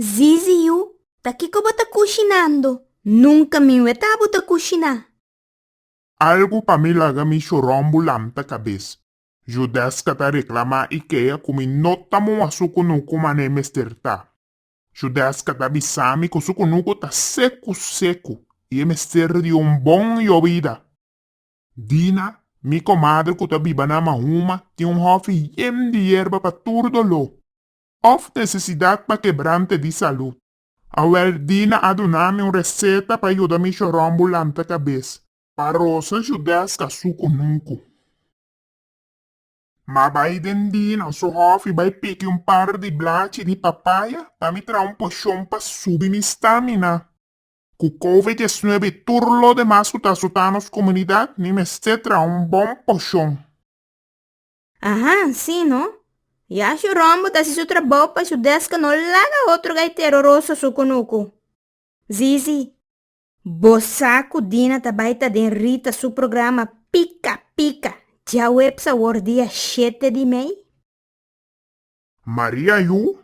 Zizi yu, ta kiko bo ta kushinando? Nunka mi weta bo ta kushiná. Algu pa mi laga mi shorombo lanta kabes. Judesca ta reclamá Ikea cu mi no ta mua su cunucu mané mester ta. Judesca ta bisa mi cu su cunucu ta secu secu y e mester di un bon llobida. Dina, mi komadre ku ta biba na Mahuma, tin un hòfi yen di yerba pa tur doló òf nesesidat pa kebrante di salùt. Awèl Dina a duna mi un reseta pa yuda mi shoròmbu lanta kabes. Pa Rosa Judeska su kunuku. M'a bai den Dina su hòfi bai piki un par di blachi di papaya pa mi traha un poshon pa subi mi stamina. Ku covid diecinuebe i tur lo demas ku ta asutá nos komunidat mi mester traha un bon poshon. Aha, sí no. Yahjo Rombo ta hasi su trabou pa su deska no laga otro gaitero rosa su kunuku. Zizi, Bo sa ku Dina ta bai ta den Rita su programa Pika Pika djaweps awor dia shete di mei? Maria Yu,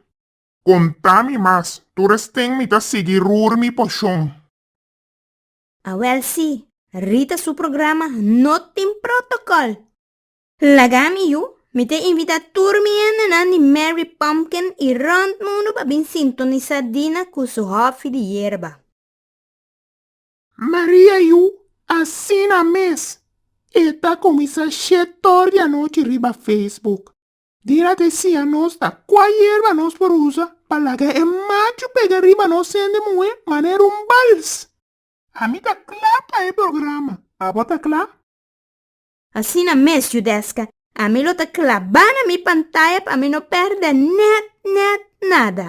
Konta mi mas, tur es ting mi ta sigui rur mi poshon. Awel si, Rita su programa no tin protokòl! Laga mi yu, mi ta invitá tur mi hendenan di Merry Pumpkin i rònt mundu pa bin sintonisá Dina ku su hòfi di yerba. Maria yu, Asina mes! E ta kuminsá shet òr di anochi riba Facebook. Di a decia nos ta cua yerba nos por usa pa laga e machu pega riba nos hende muhe manera un bals. Ami ta cla pa e programa, abo ta cla? Asina mes Judesca, ami lo ta claba na mi pantaya pa mi no perde net net nada.